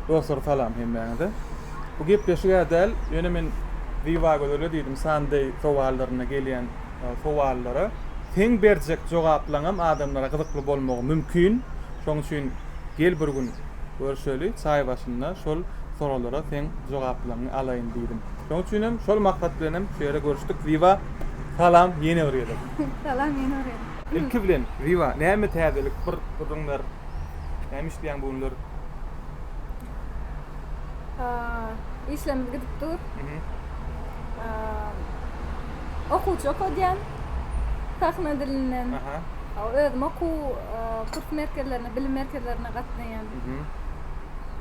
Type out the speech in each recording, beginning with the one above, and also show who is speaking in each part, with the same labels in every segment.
Speaker 1: Dostlar salam hemmäňize. Bu gepleşigä däl, ýöne men Zibagözele diýdim Sunday sowallarynda gelýän sowallara seň berjek jogaplaňam adamlara gyzykly bolmagy mümkin. Şoň üçin gel bir gün görşeli, çaý başynda şol soralara seň jogaplaňňy alaýyn diýdim. Şoň üçinem şol maksat bilenem şu ýere görüşdik. Ziba salam ýene bir gezek. Salam ýene bir gezek.
Speaker 2: Ilki bilen Ziba
Speaker 1: näme täzelik bir gürrüň ber. Näme işleýäň bu günler?
Speaker 2: Işlerimiz gidip dur. Okuwçy okadýan sahna dilinden. Özüm okuw kurs merkezlerine, bilim merkezlerine gatnaýan.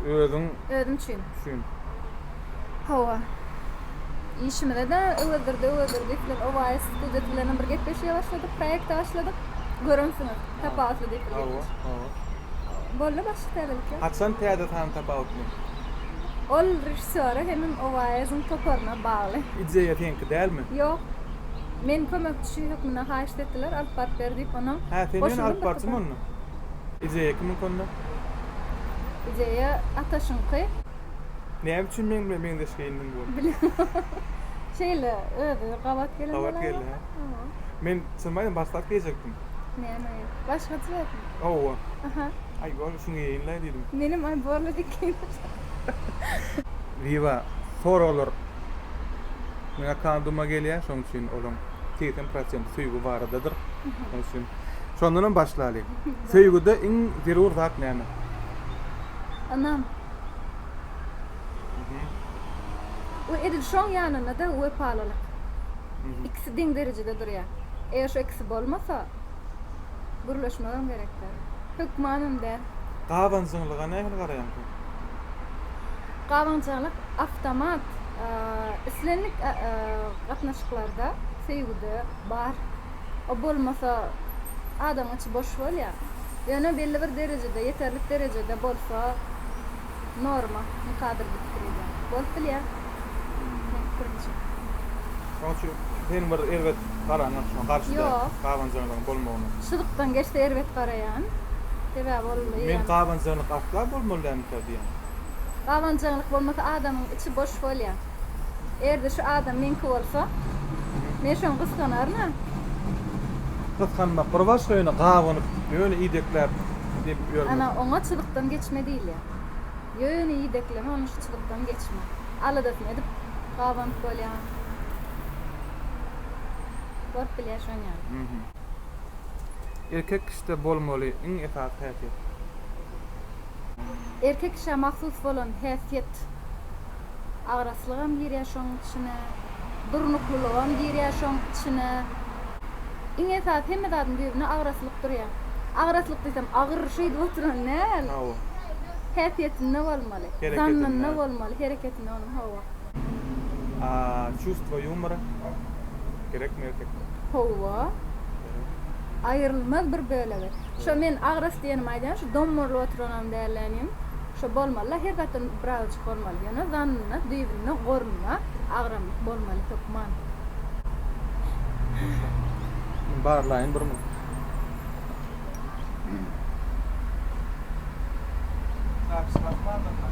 Speaker 2: Özüň? Özüm üçin. Üçin. Hawa. Işimize-de Öwezdirdi, Öwezdirdi diýipler. OAS Studios bilenem bir gepleşige başladyk, proýekte başladyk. Göremsiňiz, Tapawutly diýip bir gepleşik. Hawa, hawa. Boldy başga täzelik ýok. Haçan täze sany
Speaker 1: Tapawutly?
Speaker 2: Ol režissýora hemem OAS-iň toparyna bagly. Ideýa seňki dälmi?
Speaker 1: Ýok.
Speaker 2: Meni kömekçi hökmünde haýyşt etdiler, alyp baryp ber diýip, onam goşuldym. Hä, sen ýöne alyp baryjymy
Speaker 1: onda? Ideýa kimiňki onda?
Speaker 2: Ideýa Ataşyňky. Näme
Speaker 1: üçin meň bilen meňzeşgeýindiň bu gün?
Speaker 2: Şeýle, özi gabat gelen bolany. Gabat geldi, hä?
Speaker 1: Men çynymy aýdym başdak geýjekdim. Näme?
Speaker 2: Başga çyzasyn. Hawa. Aha.
Speaker 1: Aý,
Speaker 2: bor, şuny
Speaker 1: geýeýin-le diýdim. Menem aý borla dik
Speaker 2: geýinip.
Speaker 1: Wiwa, soraglar meň akama duma gelýär, şonuň üçin olaň segsen prosenti söýgi baradadyr. Şonuň üçin şondanam başlaly. Söýgüde iň zerur zat näme?
Speaker 2: Anam. We edil şoň ýanynda-da wepalylyk. Ikisi deň derejede durýar. Eger şu ikisi bolmasa, gürleşmegem gerek däl. Hökmanam däl. Gabanjyňlyga
Speaker 1: nähili garaýaň sen?
Speaker 2: Gabanjyňlyk awtomat islendik gatnaşyklarda, söýgüde bar. O bolmasa, adamyň içi boş bolýar. Ýöne belli bir derejede, ýeterlik derejede bolsa, norma, mykdadyr diýip pikir edýän. Bolup bilýär, meniň pikirimçe.
Speaker 1: Şonuň üçin sen bir erbet garaňok şuňa garşy däl, gabanjaňlygyň bolmagyna? Ýok. Şyzykdan geçse
Speaker 2: erbet garaýan. Sebäbi ol eýýäm. Men gabanjaňlyk
Speaker 1: asla bolmaly dälmikä diýýän. Gabanjaňlyk
Speaker 2: bolmasa, adamyň içi boş bolýar. Erdi şu adam meňki bolsa men şony gysganaryn-a.
Speaker 1: Gysganmak bir başga ýöne gabanyp ýöne idekläp depip ýörmek. Ana oňa çyzykdan
Speaker 2: geçme diýilýär. Ýöne idekleme ony şu çyzykdan geçme. Aladasyny edip gabanyp bolýar. Bolup bilýär şoň ýaly.
Speaker 1: Erkek kişide bolmaly iň esasy häsiýet.
Speaker 2: Erkek kişä mahsus bolan häsiýet. Agraslygam girýär şoň içine. Durnuklylygam girýär şoň içine. Iň esasy hemme zadyň düýbünde agraslyk durýar. Agraslyk diýsem agyr şeýdip oturan däl. Hawa.
Speaker 1: Häsiýetinde
Speaker 2: bolmaly. Hereketinde. Zanynda bolmaly, hereketinde bolmaly, hawa. A çustwo
Speaker 1: ýumora gerekmi erkekde? Hawa.
Speaker 2: Aýrylmaz bir bölegi. Şo men agras diýenimi aýdýan şu dommarylyp oturanam dällänim. Şo bolmalyda her zatdan biragyç bolmaly. Ýöne zanynda düýbünden gorunma, agramlyk bolmaly hökman. Şuny
Speaker 1: barlaýyn bir minut. Zapis basmandyr-la.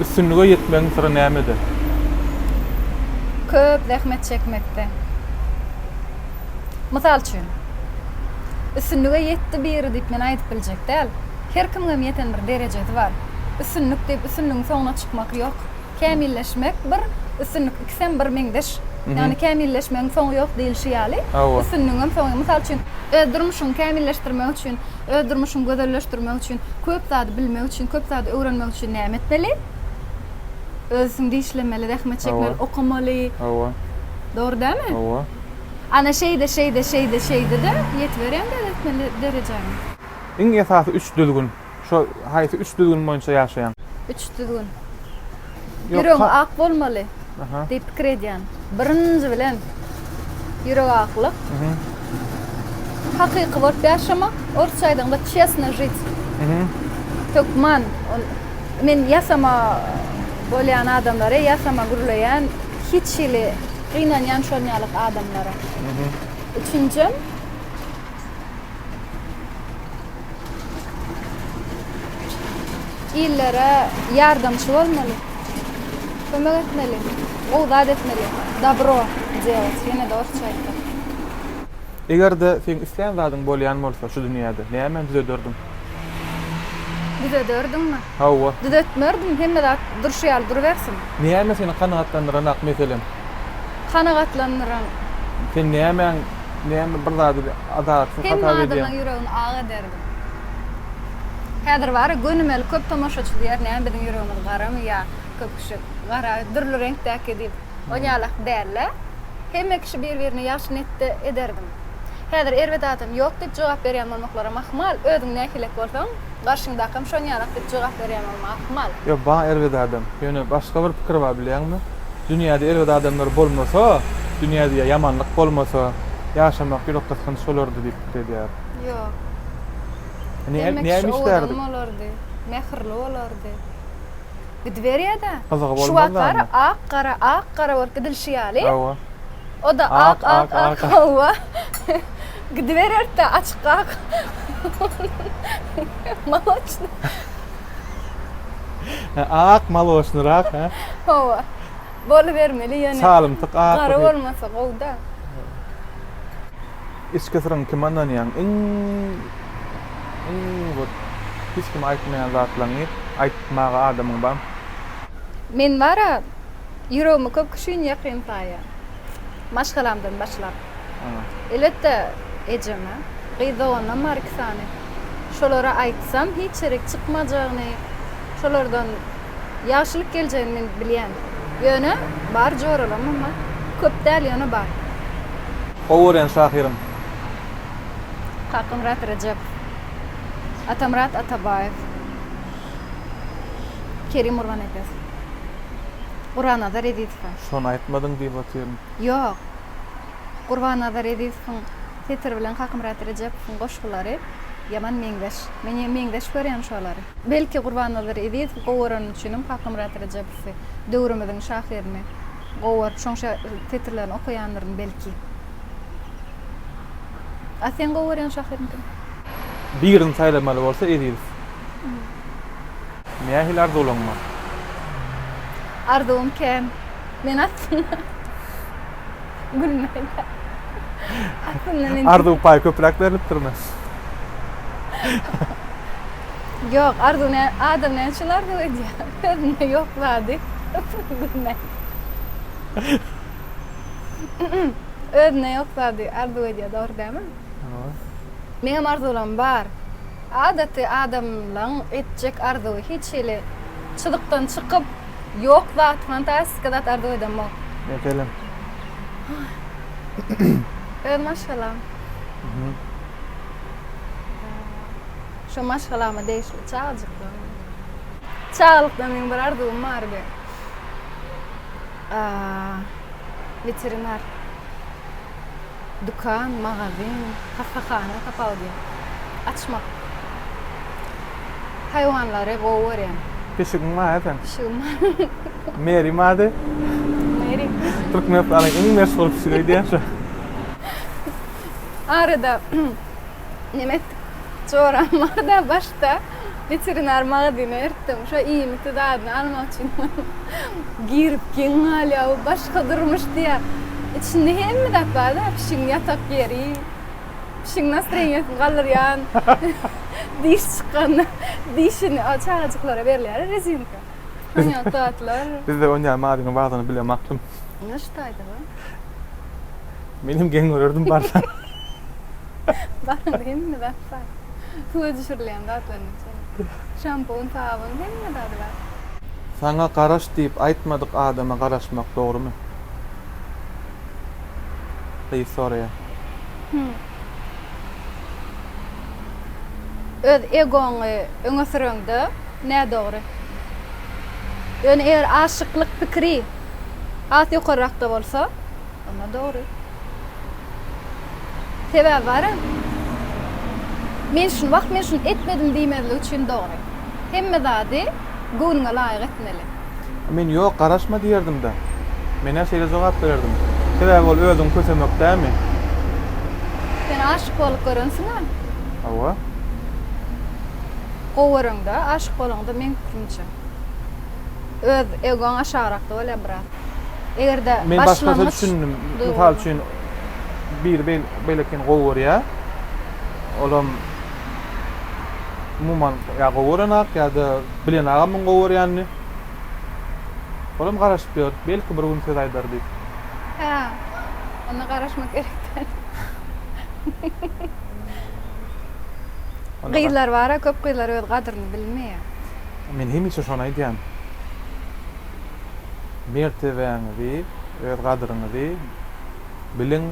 Speaker 1: Üstünlige ýetmegiň syry nämede?
Speaker 2: Köp zähmet çekmekde. Mysal üçin, Üstünlige ýetdi biri diýip men aýdyp biljek däl. Her kimiňem ýeten bir derejesi bar. Üstünlik diýip üstünligiň soňuna çykmak ýok. Kämilleşmek bir, üstünlik ikisem bir meňzeş. Ýagny kämilleşmegiň soňy ýok diýilişi ýaly, üstünligiňem soňy. Mysal üçin, öz durmuşyňy kämilleşdirmek üçin Öz durmuşyňy gözelleşdirmek üçin, köp zady bilmek üçin, köp zady öwrenmek üçin näme etmeli? Öz üstüňde işlemeli, zähmet çekmeli, okamaly. Hawa.
Speaker 1: Dogry dälmi?
Speaker 2: Hawa.
Speaker 1: Ana şeýde,
Speaker 2: şeýde, şeýde, şeýde-de ýetiberýäň beletmeli derejäňe. Iň esasy
Speaker 1: üç düzgün. Şo haýsy üç düzgün boýunça ýaşaýaň? Üç düzgün.
Speaker 2: Ýüregi ak bolmaly diýip pikir edýän. Birinji bilen ýürek aklyk. Hakyky bolup ýaşamak, orsça aýdaňda çesno žit. Hökman men ýasama bolýan adamlary, ýasama gürleýän, hiç hili gynanýan şon ýalyk adamlara. Üçünjim. Illere ýardamçy bolmaly. Kömek etmeli. Gowy zat etmeli. Dobro делать, ýene-de orsça aýtsak.
Speaker 1: Eger-de seň islän zadyň bolýan bolsa şu dünýäde, nämäni düzederdiň?
Speaker 2: Düzederdiňmi? Hawa. Düzetmerdim,
Speaker 1: hemme
Speaker 2: zat durşy ýaly durubersin. Näme seni
Speaker 1: kanagatlandyran ak meselem? Kanagatlandyran?
Speaker 2: Sen
Speaker 1: nämäň Näme bir zady adalatsyn hata edýäň. Hemme adamlaň
Speaker 2: ýüregini
Speaker 1: ak ederdim.
Speaker 2: Häzir bara gönümeli köp tomaşaçy diýer näme biziň ýüregimiz garamy ýa köp kişi gara dürli reňkdäki diýip on ýalak dällä hemme kişi bir birine ýagşy netde ederdim. Häzir erbet adam ýok diýip jogap berýän bolmaklaram ahmal özüň nähilek bolsaň garşyňdakam şon ýalak diýip jogap berýän bolmak ahmal. Ýok bar erbet adam.
Speaker 1: Ýöne başga bir pikir bar bilýäňmi? Dünýäde erbet adamlar bolmasa, dünýäde ýamanlyk bolmasa, ýaşamak ýürek gysgynç bolardy diýip pikir edýär. Ýok. Näme owadan bolardy,
Speaker 2: mähirli bolardy. Gidiberýär-de. Gyzygy bolmazdanmy?
Speaker 1: Şu wagt gara, ak
Speaker 2: gara,
Speaker 1: ak
Speaker 2: gara bolup gidilişi ýaly. Hawa.
Speaker 1: O-da
Speaker 2: ak, ak, ak, hawa. Gidibererdi-de, açyk ak. Moloçny.
Speaker 1: He, ak maloçnyrak, he? Hawa.
Speaker 2: Bolubermeli ýöne. Çalymtyk ak. Gara
Speaker 1: bolmasa gowy-da. Içki syryň kime ynanýaň? Iň iň bir hiç kime aýtmaýan zatlaňňy aýtmaga adamyň bar. Men
Speaker 2: bar-a, ýüregimi köp kişiniň ýakyn saýýan. Maşgalamdan başlap. Elbetde, ejeme. Gyz doganam bar iki sany. Şolara aýtsam, hiç ýerik çykmajagyny, şolardan ýagşylyk geljegini men bilýän. Ýöne, bar joralamam-a. Köp däl, ýöne bar. Gowy
Speaker 1: görýän şahyryň?
Speaker 2: Kakamyrat Rejep. Atamyrat Atabaýew. Kerim Gurbanepes. Guranazar Ezizowa. Şony aýtmadyň diýip
Speaker 1: otyryn. Ýok.
Speaker 2: Gurbannazar Ezizowyň setiri bilen Kakamyrat Rejepowyň goşgulary ýaman meňzeş. Men ýene meňzeş görýän şolary. Belki Gurbannazar Ezizowy gowy görenim üçinem Kakamyrat Rejepowy, döwrümiziň şahyryny gowy görüp şoň setirlerini okaýandyryn belki. A seň gowy görýän şahyryň kim? Birini
Speaker 1: saýlamaly bolsa Ezizow. Nähili arzuwlaryň bar?
Speaker 2: Arzuwym kän. Men aslynda gülmäýdä. Aslynda men Arzuw paý köpräk
Speaker 1: berlipdirmi?
Speaker 2: Ýok, arzuw nä, adam näme üçin arzuw edýär? Özünde ýok zady gülmek. Özünde ýok zady arzuw edýär, dogry dälmi? Hawa. Meňem arzuwlarym bar. Adaty adamlaň etjek arzuwy hiç hili çyzykdan çykyp, Yok zat, fantastika zat arzuw edemok. Yok elem. Öz maşgalam. Şu maşgalama degişli çagajykdan. Çagalykdan men bir arzuwum bardy. Aa, veterinar. dükan, magazin, hassahana tapawudy açmak. Haýwanlary gowy görýän. Pişigiň bar
Speaker 1: esen? Pişigim bar.
Speaker 2: Mary
Speaker 1: bardy. Mary.
Speaker 2: Türkmenistanyň
Speaker 1: iň meşhur pişigi öýdýän şo.
Speaker 2: Arada nemes joram barda başda. Weterinar magazyna eritdim. Şo iýmitli zadyny almak üçin girip geň galýar. Bu başga durmuş diýýär. Içinde hemme zat bar-da, pişigiň ýatak ýeri, pişigiň nastreniýasyny galdyrýan diş çykanda dişini, a çagajyklara berilýär-ä rezinka. Şoň ýaly zatlar. Bizde onýaly magazynyň
Speaker 1: bardygyny bilemokdym. Onda şu taýda-da. Menem geň görerdim barsa.
Speaker 2: Baryň, hemme zat bar. Suwa düşürilýän zatlarynyň içinde. Şampun, sabyn, hemme zady bar. Saňa
Speaker 1: garaş diýip aýtmadyk adama garaşmak dogrumy? Gyz soraýar. Hümm.
Speaker 2: Öz egoňy öňe süreňde nädogry. Ýöne eger aşyklyk pikiri has ýokarrakda bolsa. Onda dogry. Sebäbi bara. Men şuny wah men şuny etmedim diýmezlik üçin dogry. Hemme zady göwnüňe laýyk etmeli. Men ýok
Speaker 1: garaşma diýerdim-de. Menä şeýle jogap bererdim. Sebäbi ol özüňi kösemek dämi?
Speaker 2: Sen aşyk bolup görensiň-ä?
Speaker 1: Hawa.
Speaker 2: Gowy göreňde, aşyk bolaňda meň pikirimçe. öz egoň aşagrakda bolýar biraz. Egerde Men başga başlangyç
Speaker 1: düşündim. Mysal üçin biri beý- beýlekini gowy görýär. Olam umuman ýa gowy görenak ýa-da bilenagam muň gowy görýänini. Olam garaşyp ýör. Belki bir gün söz aýdar diýip. Hä.
Speaker 2: Onda garaşmak gerek däl. Onda Gyzlar bar-a, köp gyzlar öz gadyryny bilmeýär. Men hemişe
Speaker 1: şony aýdýan. Mertebäňizi, öz gadyryňyzy biliň.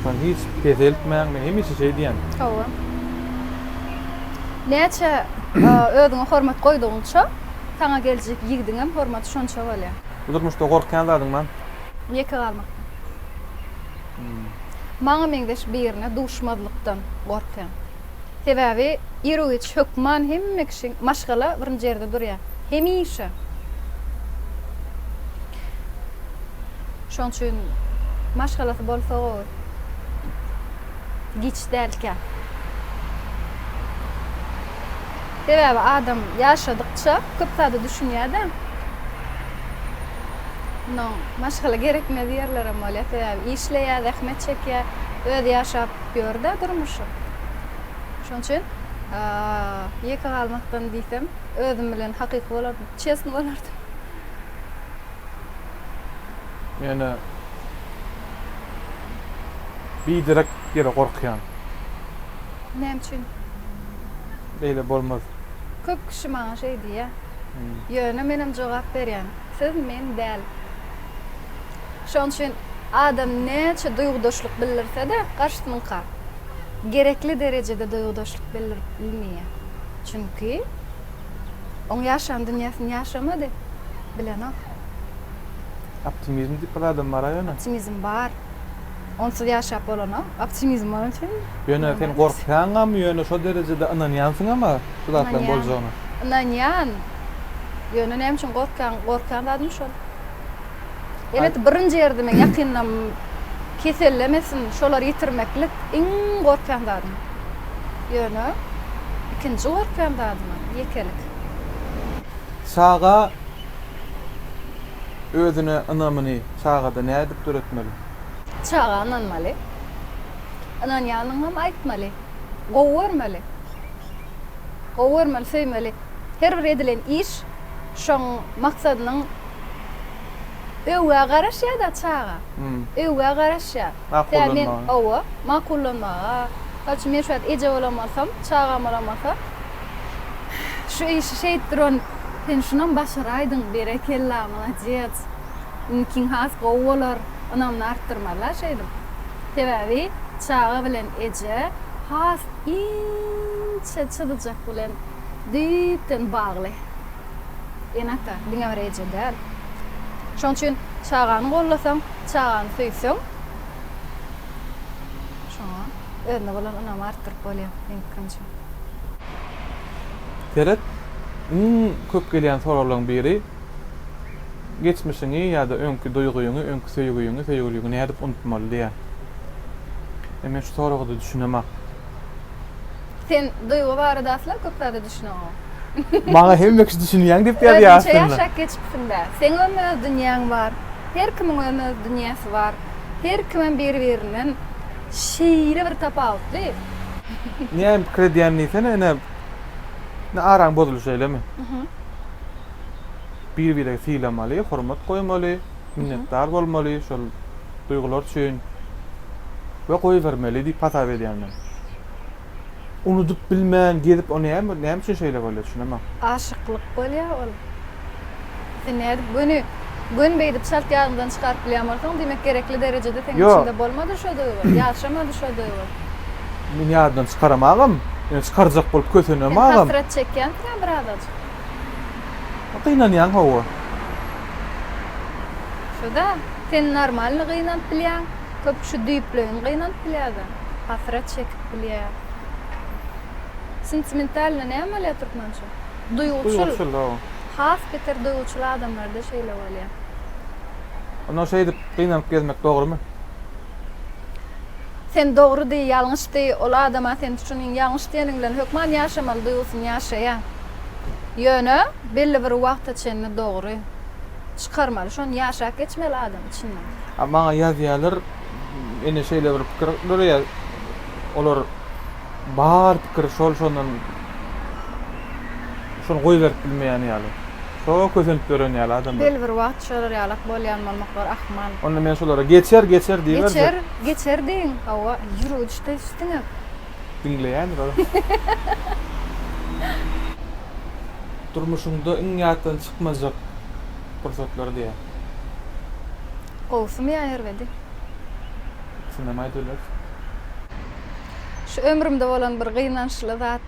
Speaker 1: Şony hiç peseltmäň. Men hemişe şeý diýen. Hawa.
Speaker 2: Näçe özüňe hormat goýdugyňça, saňa geljek ýigidiňem hormaty şonça bolýar. Bu durmuşda gorkýan
Speaker 1: zadyň bar? Ýeke galmakdan.
Speaker 2: Maňa meňzeş birine duşmazlykdan gorkýan. Sebäbi iru-giç hökman hemme kişi, maşgala birinji ýerde durýar. Hemişe. Şonuň üçin maşgalasy bolsa gowy. Giç dälkä. Sebäbi adam ýaşadykça köp zada düşünýär-de. Munuň maşgala gerekmez ýerlerem bolýar. Sebäbi işleýär, zähmet çekýär. Özi ýaşap, Gör-dä durmuşy. Şonuň üçin ýeke galmakdan diýsem, özüm bilen hakyky bolardym, çestny bolardym.
Speaker 1: Men-ä biderek ýere gorkýan.
Speaker 2: Näme üçin?
Speaker 1: Beýle bolmaz. Köp kişi
Speaker 2: maňa şeý diýýär. Ýöne menem jogap berýän, Siz men däl. Şonuň üçin adam näçe duýgudaşlyk bildirse-de, garşysynyňka gerekli derejede duýgudaşlyk bildirip bilmeýär. Çünki oň ýaşan dünýäsini ýaşamady, bilenok.
Speaker 1: Optimizm diýip bir adam bar-a ýöne. Optimizm bar.
Speaker 2: Onsuz ýaşap bolanok. Optimizm bar üçin. Ýöne sen
Speaker 1: gorkýaňamy ýöne şo derejede ynanýansyňamy şu zatlaryň boljagyna? Ynanýan.
Speaker 2: Ýöne näme üçin gorkýan? Gorkýan zadym şol. Elet birinji ýerdimi ýakynam kesellemesin şolary ýitirmeklik iň gorkýan zadym. Ýöne ikinji gorkýan zadymam ýekelik. Çaga
Speaker 1: özüne ynamyny çagada nädip döretmeli? Çaga
Speaker 2: ynanmaly. Ynanýanyňam aýtmaly. Gowy görmeli. Gowy görmeli, söýmeli. Her bir edilen iş şoň maksadynyň Öwgä garaşýada çaga. Öwgä garaşýa. Makullanmaga. Owa, makullanmaga. Mysal üçin, men şu wagt eje bolan bolsam, çagam bolan bolsa, şu işi şeýdip duran, sen şunam başaraýdyň, berekella, molodets, inikiň has gowy bolar, ynamyny artdyrmazlar şeýdip. Sebäbi çaga bilen eje has inçe çyzyjak bilen düýpden bagly. Ene-ata diňe bir eje däl. Şonuň üçin çagany gollasaň, çagany söýseň, şoňa özüne bolan ynamy artdyryp bolýar, meň pikirimçe.
Speaker 1: Seret, iň köp gelýän soraglaryň biri, Geçmişiňi ýa-da öňki duýgyňy, öňki söýgüňi, söýgüliňi nädip unutmaly diýýär. Men şu soraga-da düşünemok.
Speaker 2: Sen duýgy barada asla köp zada düşüneňok. Maňa
Speaker 1: hemme kişi düşünýäň diýip ýazýar aslynda. Özüňçe ýaşap geçipsiň-dä.
Speaker 2: Seň öň öz dünýäň bar. Her kimiň öň öz dünýäsi bar. Her kimem biri-birinden şeýle bir tapawutly.
Speaker 1: Näme pikir edýän diýsene ine. Ine araň bozulşy şeýlemi? Biri-biregi sylamaly, hormat goýmaly. minnetdar bolmaly şol duýgular üçin we goýbermeli diýip hasap edýän men. Unudyp bilmän gezip o näme näme üçin şeýle bolýar düşünemeň. Aşyklyk bolýa
Speaker 2: ol. Sen nädip göni göni beýdip çalt ýadyňdan çykaryp bilýän bolsaň diýmek gerekli derejede seň içinde bolmadyr şo duýgy ýaşamady şo duýgy. Men
Speaker 1: ýadymdan çykaramagam. Ýöne çykarjak bolup kösenemagam. Sen hasrat çekýänsiňä
Speaker 2: birazajyk. Gynanýaň
Speaker 1: hawa.
Speaker 2: Şuda sen normalny gynanyp bilýäň, köp şu düýpleýin gynanyp bilýäda, hasrat çekip bilýä. Sentimentalny näme bolýa türkmençe? Duýguçyl. Duýguçyl hawa. Has beter duýguçyl adamlarda şeýle bolýa.
Speaker 1: Onda şeýdip gynanyp gezmek dogrymy? Sen
Speaker 2: dogry deý, ýalňyş deý, ol adama sen üçin iň ýalňyş diýeniň bilen hökman ýaşamaly duýgusyny ýaşaýa. Ýöne belli bir wagta çenli dogry. Çykarmaly şony ýaşap geçmeli adam içinden. Maňa ýazýalar
Speaker 1: ine şeýle bir pikir döreýär olar bar pikir şol şondan şony goýberip bilmeýän ýaly şo kösenip ýören ýaly adamlar. Belli bir wagt şolar
Speaker 2: ýalak bolýan bolmak bar ahmal. Onda men şolara geçer
Speaker 1: geçer diýiberjek. Geçer geçer diýiň
Speaker 2: hawa ýürüjde üstüňe Diňleýändir
Speaker 1: Durmuşyňda iň ýatdan çykmajak pursatlar diýýär. Gowusymy
Speaker 2: ýa erbedi? Ikisindenem aýdyp
Speaker 1: bilersiň.
Speaker 2: Şu ömrümde bolan bir gynançly zat,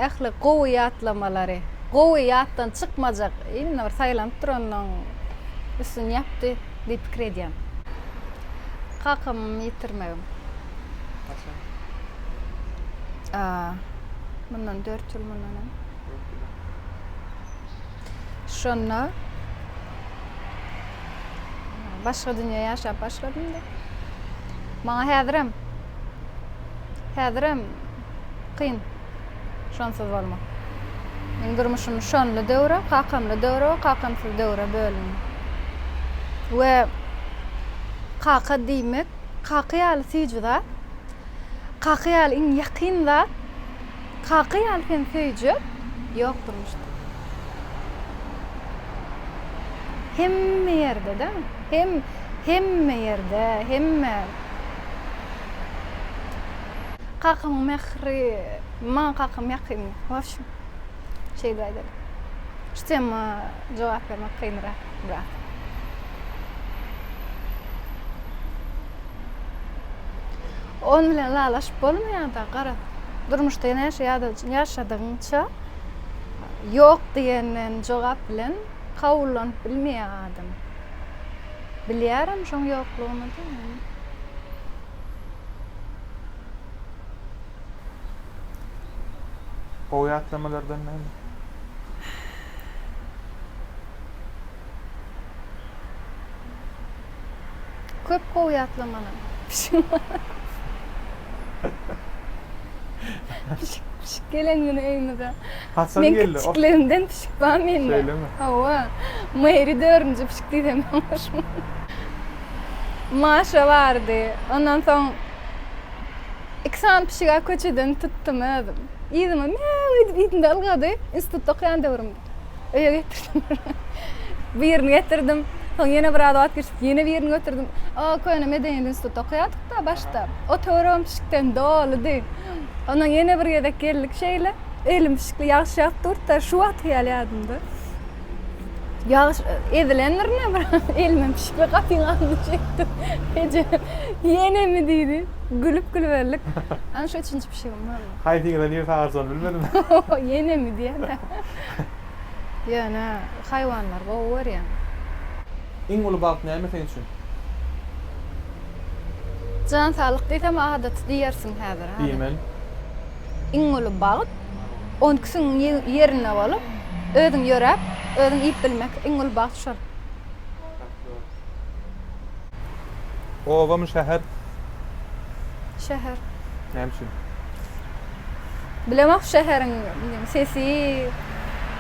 Speaker 2: ähli gowy ýatlamalary, gowy ýatdan çykmajak, imенно bir saýlanyp durandan üstün ýapdy. diýip pikir edýän. Kakamyň ýitirmegim. Haçan? Mundan dört ýyl mundan öň. Dört ýyl öň. Şonda başga dünýä ýaşap başladym-da. Maňa häzirem, häzirem kyn. Şonsuz bolmaz. Meň durmuşym şonly döwre, kakamly döwre we kakamsyz döwre bölündi. We kaka diýmek, kaka ýaly süýji zat, kaka ýaly iň ýakyn zat, kaka ýaly seni söýjek ýok durmuşda. Hemme ýerde-de, hem hemme ýerde, hemme. Kakam mähri maňa kakam ýakyn. Wobşem, şeýdip aýdaly. Şu tema jogap bermek kynrak biraz. Ony bilen ylalaşyp bolmaýar-da, garaz. Durmuşda näçe ýadaw ýaşadygyňça, ýok diýenden jogap bilen kabullanyp bilmeýär adam. Bilýärem şoň ýoklugyny-da.
Speaker 1: Gowy ýatlamalardan näme?
Speaker 2: Köp gowy ýatlamalar. Pişik gelen güni öýümize. Men
Speaker 1: kiçikligimden pişik
Speaker 2: bar mende. Şeýlemi? Hawa. Mary dördünji pişik diýsem ýalňyşmam. Maşa bardy. Ondan soň iki sany pişig-ä köçeden tutdum özüm. Yzyma Mýaw edip ýüzünde ylgady. Institutda okaýan döwrümdi. Öýe getirdim. Birini getirdim. Soň ýene biraz wagt geçip ýene birini götürdim. O köne medeniýet institutda okaýardyk-da başda. Otagym pişikden doludy. Ondan ýene bir gezek geldik şeýle. Elim pişikli ýagyş ýagyp durdy-da, şu wagtky ýaly ýadymda. Ýagyş ezilendir ine bir elimem pişikli gapyň agzyny çekdi. Eje, ýenemi diýdi. Gülüp gülüberlik. Ana şu üçünji pişigim boldy. Haýsy ýyla niresi agarjagny
Speaker 1: bilmedim. Ýenemi
Speaker 2: diýýän-ä. Ýöne haýwanlary gowy görýän. Iň
Speaker 1: uly bagt näme seň üçin?
Speaker 2: Jan saglyk diýsem adaty diýersiň häzir. Diýmen.
Speaker 1: Iň
Speaker 2: uly bagt on ikisiň ýerinde bolup, özüň ýöräp, özüň iýip bilmek iň uly bagt şol.
Speaker 1: Obamy şäher
Speaker 2: Şäher. Näme
Speaker 1: üçin? Bilemok
Speaker 2: şäheriň sesi,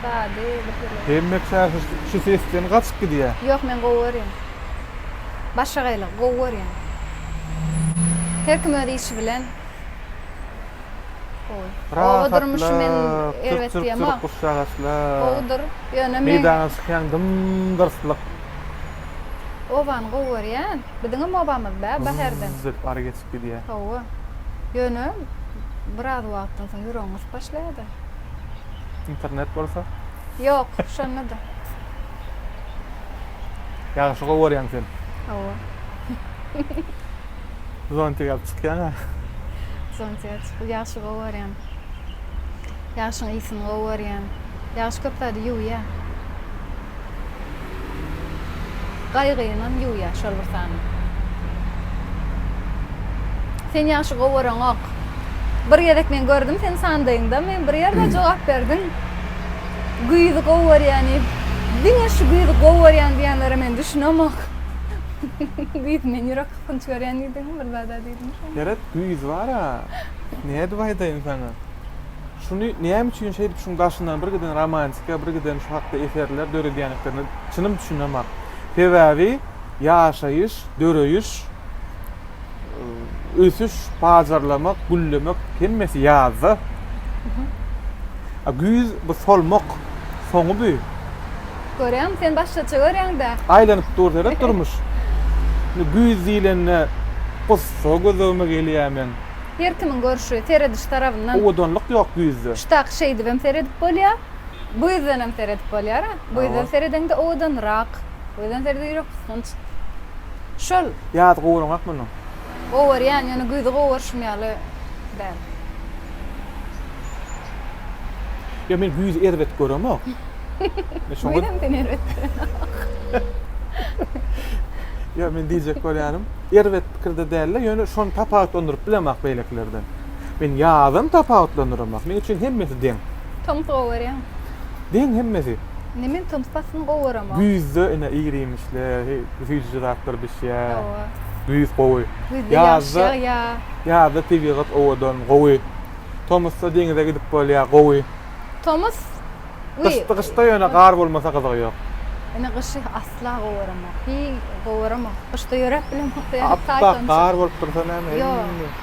Speaker 2: sady, birtürli. Hemme
Speaker 1: şäher şu sesden gaçyp gidýär. Ýok, men gowy görýän.
Speaker 2: Başga gaýlygy gowy görýän. Her kim öz işi bilen. Gowy. Oba durmuşy men erbet diýemok. Gowydyr, ýöne men. Meýdana çykýaň
Speaker 1: dym-dyrslyk.
Speaker 2: Obany gowy görýän. Biziňem obamyz bä Baherden. Zyz edip ara geçip gidýä.
Speaker 1: Hawa.
Speaker 2: Ýöne biraz wagtdan soň ýüregiň gysyp başlaýada.
Speaker 1: Internet bolsa? Ýok,
Speaker 2: şonda-da.
Speaker 1: Ýagşy gowy görýäň sen. Hawa. Zontik alyp çykýaň-a. Zontik
Speaker 2: alyp çykyp ýagşy gowy görýän. Ýagşyň ysyny gowy görýän. Ýagşy köp zady ýuwýa. Gaýgynam ýuwýa şol bir sany. Sen ýagşy gowaroňok. Bir gezek men gördüm sen sandaýyňda men bir ýerde jogap berdiň. Güýzi gowarýan diýip. Diňe şu güýzi gowarýan diýenlere men düşünemok. Güýz men ýürek kakynç görýän diýdiňmi bir zada diýdiňmi şonda. Ýeret güýz
Speaker 1: bara. Nädip aýdaýyn saňa. Şuny näme üçin şeýdip şuň daşyndan bir giden romantika, bir giden şu hakda eserler döredýändiklerine çynym düşünemok. Sebäbi ýaşaýyş, döreýiş, ösüş, pajarlamak, güllemek hemmesi ýazda. A güýz bu solmak soňy bu. Görýäňmi,
Speaker 2: sen başgaça görýäň-dä. Aýlanyp dur seret
Speaker 1: durmuş. Indi güýz diýlende gussa gözlegime gelýär men. Her kimiň
Speaker 2: görşi, serediş tarabyndan. Owadanlyk ýok güýzde.
Speaker 1: Ştak, şeýdibem
Speaker 2: seredip bolýa. Güýzdenem seredip bolýara. Güýzden seredeňde owadanrak. Güýzden seredeňde ýürek gysgynç. Şol. Ýazy gowuraňok
Speaker 1: munuň. Gowarýan,
Speaker 2: ýöne güýzi gowaryşym ýaly däl.
Speaker 1: Ýa men güýzi erbet göremok. Güýzem sen erbet pikirde. Ýok, men diýjek bolýanym, erbet pikirde däl-de, ýöne şony tapawutlandyryp bilemok beýlekilerden. Men ýazam tapawutlandyramak. Meň üçin hemmesi deň. Tomus gowy görýäňmi?
Speaker 2: Deň
Speaker 1: hemmesi. Indi men tomus paslyny
Speaker 2: gowy göremok. Güýzde ine
Speaker 1: ir-iýmişler, süýjüji zatlar bişýär. Hawa. Güýz
Speaker 2: gowy.
Speaker 1: Güýzde ýaş
Speaker 2: ýagýar. Ýazda tebigat
Speaker 1: owadan, gowy. Tomusda deňize gidip bolýar, gowy. Tomus
Speaker 2: Gyşdy
Speaker 1: gyşda ýöne gar bolmasa gyzygy ýok. Ine gyşy
Speaker 2: asla gowaramok. Hiý gowaramok. Gyşda ýöräp bilemok ýa saýt onça. Appak gar
Speaker 1: bolup dursa näme eý. Ýok.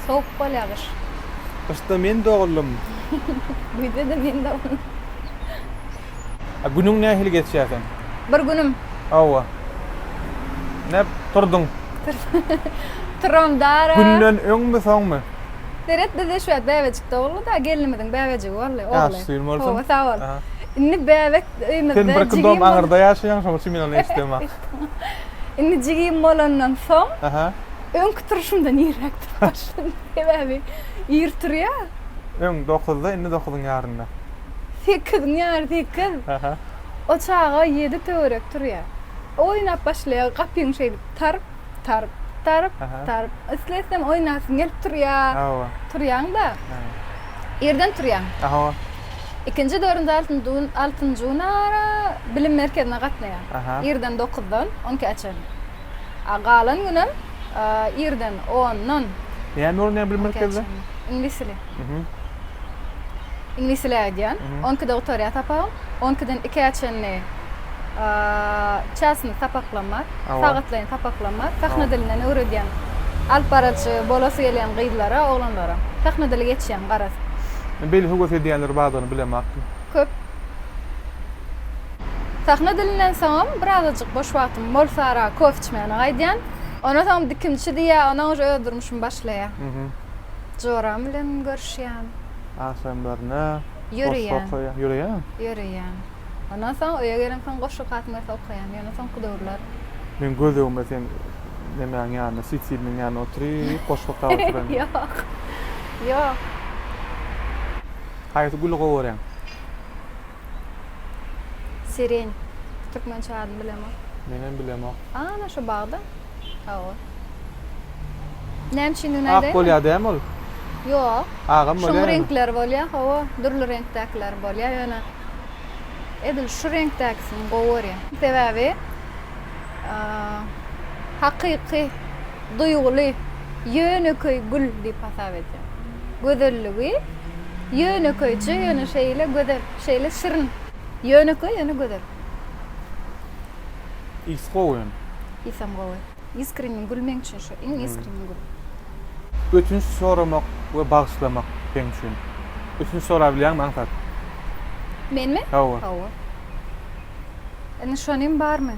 Speaker 2: Sowuk bolýa gyş. Gyşda men
Speaker 1: doguldym.
Speaker 2: Güýzde-de men doguldym.
Speaker 1: A günüň nähili geçýä seň? Bir günüm.
Speaker 2: Hawa.
Speaker 1: Näp turduň?
Speaker 2: Turam dara. Günden öňmi
Speaker 1: soňmy? Seret bizde
Speaker 2: şu wagt bäbejik doguldy-da, gelnimiziň bäbejigi boldy, ogly. Ýaşy suyun bolsun. Howwa sag
Speaker 1: bol.
Speaker 2: Indi bäbek öýümizde jigim bolanda. Sen birki dom aňyrda
Speaker 1: ýaşaýaň şoň üçin men ony eşidemok. Indi
Speaker 2: jigim bolandan soň öňki
Speaker 1: turşumdan
Speaker 2: irräk turup başladym. Sebäbi ir turýa. Öň dokuzda
Speaker 1: indi dokuzyň ýarynda. Sekiziň
Speaker 2: ýary sekiz. O
Speaker 1: çaga
Speaker 2: ýedi töwerek turýa. Oýnap başlaýa gapyň şeýdip taryp. Tarp, tarp, tarp.
Speaker 1: Islesem
Speaker 2: oýnasym gelip turýa. Hawa. Turýaň-da. Irden turýaň. Hawa.
Speaker 1: Ikinji,
Speaker 2: dördünji, altynjy, altynjy gün ara bilim merkezine gatnaýaň. Irden dokuzdan on ikä çenli. A galan günem irden ondan. Näme öwrenýäň
Speaker 1: bilim merkezinde? Iňlis dili.
Speaker 2: Iňlis dili aýdýan. On ikide gutarýar sapagym. On ikiden ikä çenli çasynda sapaklam bar. Sagatlaýyn sapaklam bar. Sahna dilinden öwredýän alyp baryjy bolasy gelýän gyzlara, oglanlara. Sahna dili geçýän garaz. Beýle höwes
Speaker 1: edýänleri bardygyny bilemokdym. Köp.
Speaker 2: Sahna dilinden soňam birazajyk boş wagtym bolsara kofe içmäne gaýdýan. Ondan soňam dikimçi diýýär, ondan öňem öz durmuşymy başlaýar.
Speaker 1: Joram
Speaker 2: bilen görüşýän. Agşamlaryna
Speaker 1: goşgy
Speaker 2: okaýan. Ýöreýän.
Speaker 1: Ýöreýän.
Speaker 2: Ondan soň öýe gelemsoň goşgy okasym gelse okaýan. Ýöne soňky döwürler. Meň gözlegimde
Speaker 1: sen nemäň ýanynda, switilniň ýanynda oturyp goşgy okap oturan. Ýok.
Speaker 2: Ýok.
Speaker 1: Haýsy güli gowy görýäň?
Speaker 2: Siren. Türkmençe adyny bilemok. Menem bilemok.
Speaker 1: Ana şu bagda.
Speaker 2: Sag bol. Näme üçindigini aýdaýynmy? Ak bolýar dämi ol?
Speaker 1: Ýok.
Speaker 2: Agam bolýar. Şuň
Speaker 1: reňkleri bolýar, hawa.
Speaker 2: Dürli reňkdäkiler bolýar, ýöne edil şu reňkdäkisini gowy görýän. Sebäbi hakyky, duýguly, ýönekeý gül diýip hasap edýän. Gözelligi ýönekeýje, ýöne şeýle gözel, şeýle şirin. Ýönekeý, ýöne gözel.
Speaker 1: Ysy gowy hem. Ysam gowy.
Speaker 2: Iskreniň gül meň üçin şu iň iskreniň gül. Ötünç
Speaker 1: soramak we bagyşlamak seň üçin. Ötünç sorabilýäňmi aňsat?
Speaker 2: Menmi? Hawa. Hawa. Indi şonym barmy?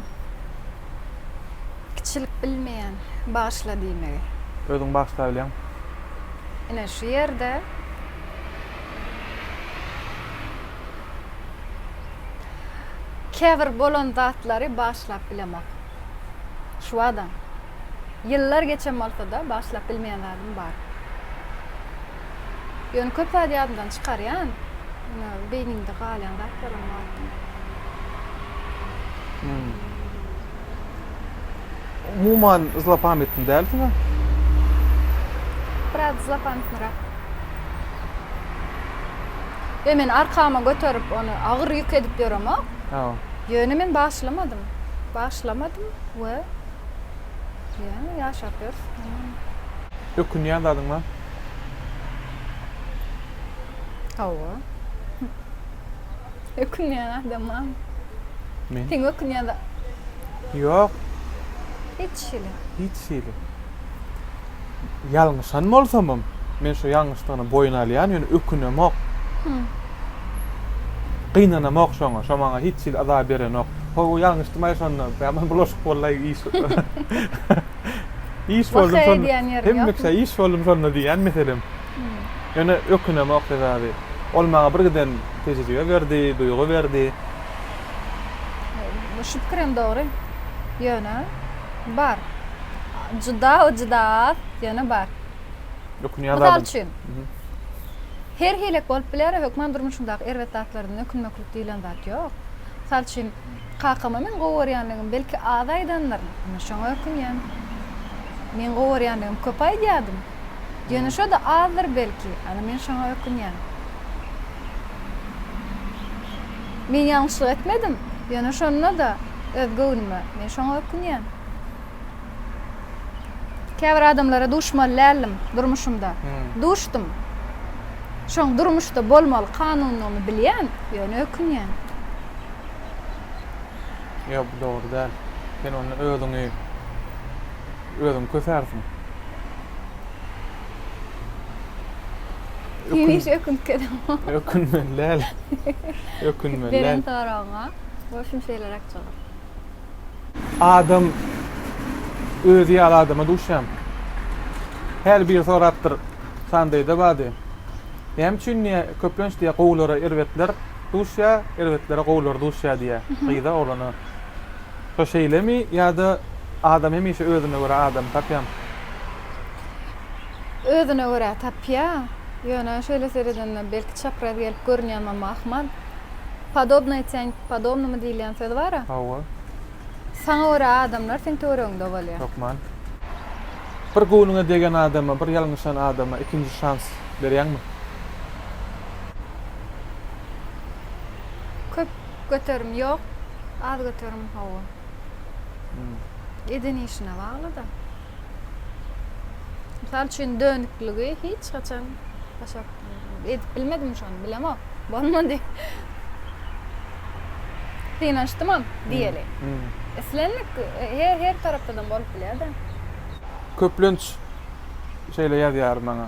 Speaker 2: Kiçilik bilmeýän bagyşla diýmegi. Özüň bagyşlabilýäň.
Speaker 1: Ine
Speaker 2: şu ýerde. Käbir bolan zatlary bagyşlap bilemok. Şu adam. Ýyllar geçen bolsa-da, bagyşlap bilmeýän zadym bar. Ýöne köp zady ýadymdan çykarýan. Ýöne beýnimde galýan zatlaram bar.
Speaker 1: Umuman zlopamytny dälsiňa?
Speaker 2: Biraz zlopamytnyrak. Ýöne men arkama göterip ony agyr ýük edip
Speaker 1: ýöremok.
Speaker 2: Hawa. Ýöne men başlamadym. Başlamadym we ýöne ýaşap ýörüs.
Speaker 1: Ökünýän zadyň bar?
Speaker 2: Hawa. Ökünýän adama. Men.
Speaker 1: Sen ökünýän da.
Speaker 2: Ýok. Hiç hili. Hiç hili.
Speaker 1: Ýalňyşan bolsamam, men şu ýalňyşdygyny boýun alýan, ýöne ökünemok. Hum. Gynanamok şoňa, şo maňa hiç hili yza berenok. Ho-o, ýalňyşdymaý şonda, bäman bulaşyk bollaý iş. Iş boldum şonda. Waka edýän ýeriň ýokmy? Hemmeşe iş
Speaker 2: boldum şonda diýýän
Speaker 1: meselem. Ýöne ökünemok, sebäbi ol maňa bir giden tejribe berdi, duýgy berdi.
Speaker 2: Şu pikir hem dogry. Ýöne bar. Juda we juda az, ýöne bar. Ökünýän
Speaker 1: zadyň. Mysal üçin,
Speaker 2: her hilek bolup biler, hökman durmuşyňdaky erbet zatlardan ökünmeklik diýilen zat ýok. Mysal üçin, kakama meň gowy görýändigimi belki az aýdandyryn, ine şoňa ökünýän. Meň gowy görýändigimi köp aýdýardym. Ýöne şo-da azdyr belki. Ana men şoňa ökünýän. Men ýalňyşlyk etmedim. Ýöne şonda-da öz göwnüme. Men şoňa ökünýän. Käbir adamlara duşmaly däldim durmuşymda. Duşdum. Şoň durmuşda bolmaly kanundygyny bilýän, ýöne ökünýän.
Speaker 1: Ýok, bu dogry däl. Sen onda özüňi. Özüň kösärsiň.
Speaker 2: Hemişe ökünip gezemok. Ökünmeli däl.
Speaker 1: Ökünmeli däl. Beren
Speaker 2: soragyňa bolşum şeýleräk jogap.
Speaker 1: Adam özi ýaly adama duşýan. Häli biri sorapdyr, Sandaýda bady. Näme üçin diýä, köplenç diýä gowulara erbetler duşýa, erbetlere gowular duşýa diýä. Gyza, oglana. Şo şeýlemi ýa-da adam hemişe özüne görä adamy tapýamy?
Speaker 2: Özüne görä tapýa. Ýöne şeýle seredende belki çapraz gelip görünýänmem ahmal. Podobnoý tyaň podobnomu diýilýän söz bar-a. Hawa.
Speaker 1: Saňa
Speaker 2: görä adamlar seň töweregiňde bolýa. Hökman.
Speaker 1: Bir göwnüňe degen adama, bir ýalňyşan adama ikinji şans berýäňmi?
Speaker 2: Köp. Göterim ýok, az göterim hawa. Eden işine baglyda. Mysal üçin dönükligi hiç haçan başaryp edip bilmedim şony bilemok. Bolmady. Synanyşdymam diýeli. Islendik her her tarapdadam bolup bilýär-de. Köplenç
Speaker 1: şeýle ýazýar maňa.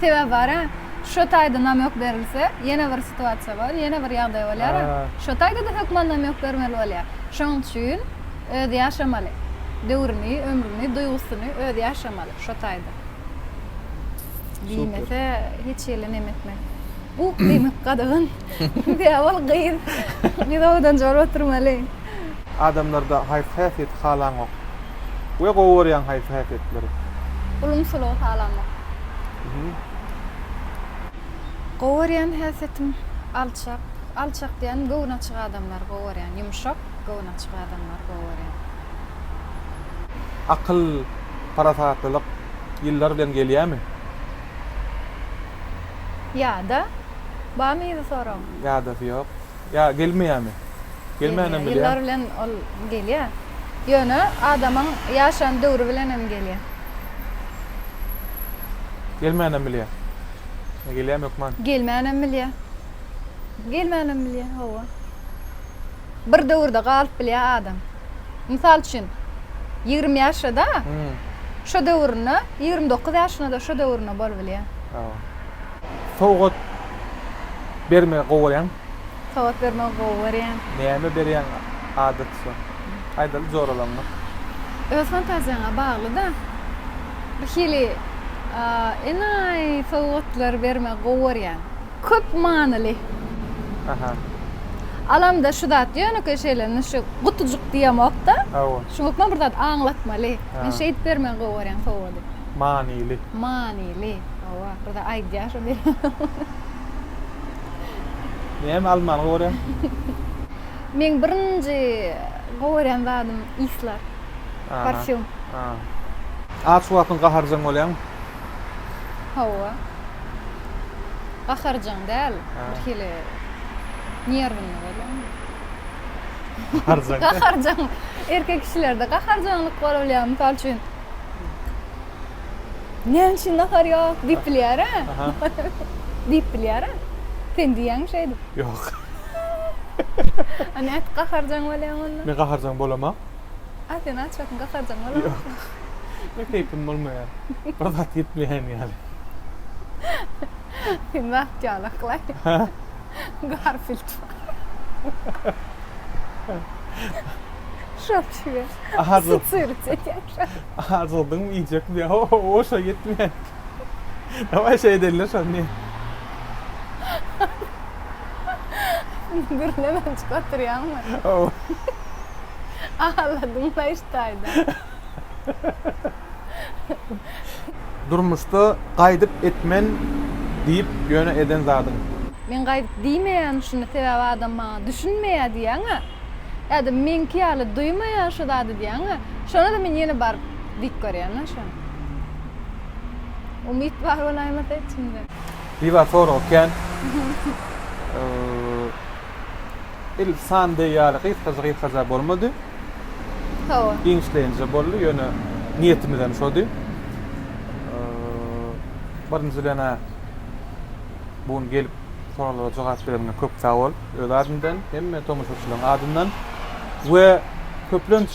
Speaker 2: Sebäbi bar-a. Şo taýda namök berilse, ýene bir situasiýa bar, ýene bir ýagdaý bolýar-a. Şo taýda-da hökman namök bermeli bolýar. Şonuň üçin özi ýaşamaly. Döwrüni, ömrüni, duýgusyny özi ýaşamaly şo taýda. Diýmese, hiç hili neme etmez. Bu demek gadagan. Sebäbi ol gyz. Gyz owadan jogap oturmaly. Adamlarda
Speaker 1: haýsy häsiýeti halaňok? we gowy görýäň haýsy häsiýetleri? Ulumsylygy
Speaker 2: halamak. Gowy görýän häsiýetim alçak. Alçak diýen göwni açyk adamlary gowy görýän. Ýumşak, göwni açyk adamlary gowy görýän.
Speaker 1: Akyl, parasatlylyk ýyllar bilen gelýämi?
Speaker 2: Ýa-da? Barmy yzy soragyň? Ýadasy ýok.
Speaker 1: Ýa gelmeýämi? Gelýär. Gelmänem bilýä. Ýyllar bilen ol
Speaker 2: gelýär. Ýöne adamyň ýaşan döwri bilen hem gelýär.
Speaker 1: Gelmänem bilýä. Ýa gelýämi hökman? Gelmänem bilýä.
Speaker 2: Gelmänem bilýä, hawa. Bir döwürde galyp bilýä adam. Mysal üçin, ýigrimi ýaşda-da şo döwründe, ýigrimi dokuz ýaşyna-da şo döwründe bolubilýä. Hawa.
Speaker 1: Sowgat bermegi gowy görýäň. Sowgat bermegi
Speaker 2: gowy görýän. Näme berýäň
Speaker 1: adaty şo. Aýdaly joralaňňy. Öz
Speaker 2: fantaziýaňa bagly-da. Bir hili enaýy sowgatlar bermegi gowy görýän. Köp
Speaker 1: manyly.
Speaker 2: Aha. Alamda şu zat ýönekeý şeýle indi şu gutujyk diýemok-da. Hawa. Şuň hökman
Speaker 1: bir zat
Speaker 2: aňlatmaly. Men şeýdip bermegi gowy görýän sowgady. Manyly.
Speaker 1: Manyly.
Speaker 2: Hawa, ahyry-da aýdýar şo diýip.
Speaker 1: Näme almany gowy görýäň?
Speaker 2: Meň birinji gowy görýän zadym yslar, parfýum.
Speaker 1: Aç wagtyň gaharjaň bolýaňmy?
Speaker 2: Hawa. Gaharjaň däl, birhili nerwinli bolýan.
Speaker 1: Gaharjaň. Gaharjaň.
Speaker 2: Erkek kişilerde gaharjaňlyk bolýar, mysal üçin. Näme üçin nahar ýok? diýip bilýär-ä.
Speaker 1: Diýip
Speaker 2: bilýär-ä. Sen diýýäňmi şeýdip? Ýok. A nädip gaharjaň bolýaň onda? Men gaharjaň bolamok.
Speaker 1: A sen aç
Speaker 2: wagtyň gaharjaň bolamok. Ýok.
Speaker 1: Men keýpim bolmaýar. Bir zat iýip bilýän ýaly.
Speaker 2: Sen wagt ýaly yklaý. Garfild. Şok şüwet. Aha, dur. Syryt
Speaker 1: edýär.
Speaker 2: Azyrdyňmy
Speaker 1: iýjekmi ýa ho-ho-o şo ýetme. Dawaý şeý edeli şony ne.
Speaker 2: Gürlemem çykartyrýaňmy.
Speaker 1: Ho-o.
Speaker 2: Aladym-la iş taýdan.
Speaker 1: Durmuşda gaýdyp etmen diýip ýöne eden zadyň. Men gaýdyp
Speaker 2: diýmeýän şuny sebäbi adam maňa düşünmeýä diýýäňä. Adam meňki ýaly duýmaýar şu zady diýýäň-ä. Şonda-da men ýene baryp diýip görýän-ä şony. Umyt bar bolaýmasa içimde. Biba sorag
Speaker 1: ekän. Il san deý ýaly gysgaja-gysgaja bolmady. Hawa.
Speaker 2: Giňişleýinje
Speaker 1: boldy, ýöne niýetimizem şody. Birinjiden-ä, bu gün gelip soraglara jogap bereniňe köp sag bol öz adymdan hemme tomaşaçylaryň adyndan we köplenç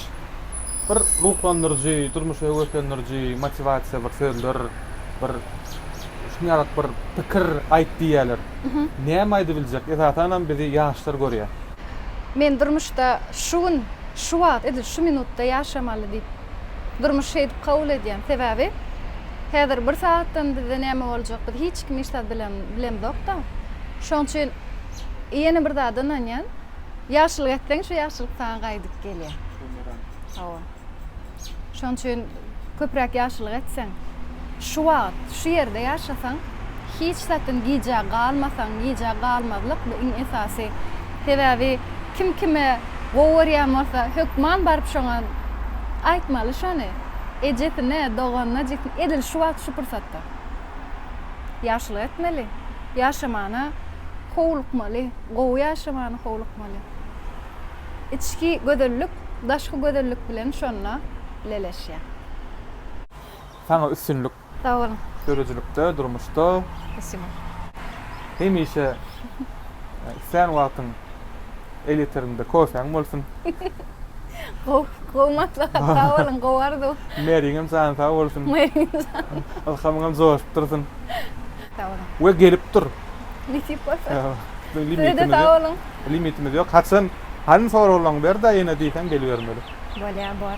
Speaker 1: bir ruhlandyryjy durmuşa höweslendiriji motiwasiýa bir sözler bir şuny ýaly bir pikir aýt diýýärler näme aýdybiljek esasanam bizi ýaşlar görýär. Men
Speaker 2: durmuşda şu gün şu wagt edil şu minutda ýaşamaly diýip. Durmuş şeýdip kabul edýän sebäbi häzir bir sagatdan bizde näme boljak biz hiç kim hiç zat bilen bilemzokda şoň üçin ýene bir zada ynanýan ýagşylyk etseň şu ýagşylyk saňa gaýdyp gelýä bumerang hawa şoň üçin köpräk ýagşylyk etseň şu wagyt şu ýerde ýaşasaň hiç zatyn gijä galmasaň, gijä galmazlyk bu iň esasy. Sebäbi kim kime gowy görýän bolsa, hökman baryp şoňa aýtmaly şony. Ejesine, doganyna, jigisine, edil şu wagt şu pursatda. Ýagşylyk etmeli. Ýaşamana howlukmaly. Gowy ýaşamana howlukmaly. Içki gözellik daşky gözellik bilen şonda leleşýär.
Speaker 1: Saňa üstünlik. Sag boluň.
Speaker 2: Döredijilikde, durmuşda.
Speaker 1: Spasibo. Hemişe islän wagtyň el ýeterinde kofäň bolsun. Gowy, gowy
Speaker 2: maslahat. Sag boluň, gowy arzuw. Märiňem jany
Speaker 1: sag bolsun. Märiňem jany. Ylhamyňam joşup dursun. Sag boluň.
Speaker 2: We gelip dur.
Speaker 1: Nesip
Speaker 2: bolsa.
Speaker 1: Size-de sag boluň.
Speaker 2: Limitimiz
Speaker 1: ýok.
Speaker 2: Haçan,
Speaker 1: hany soraglaryňy ber-de ýene diýseň gelibermeli. Bolýar, bor.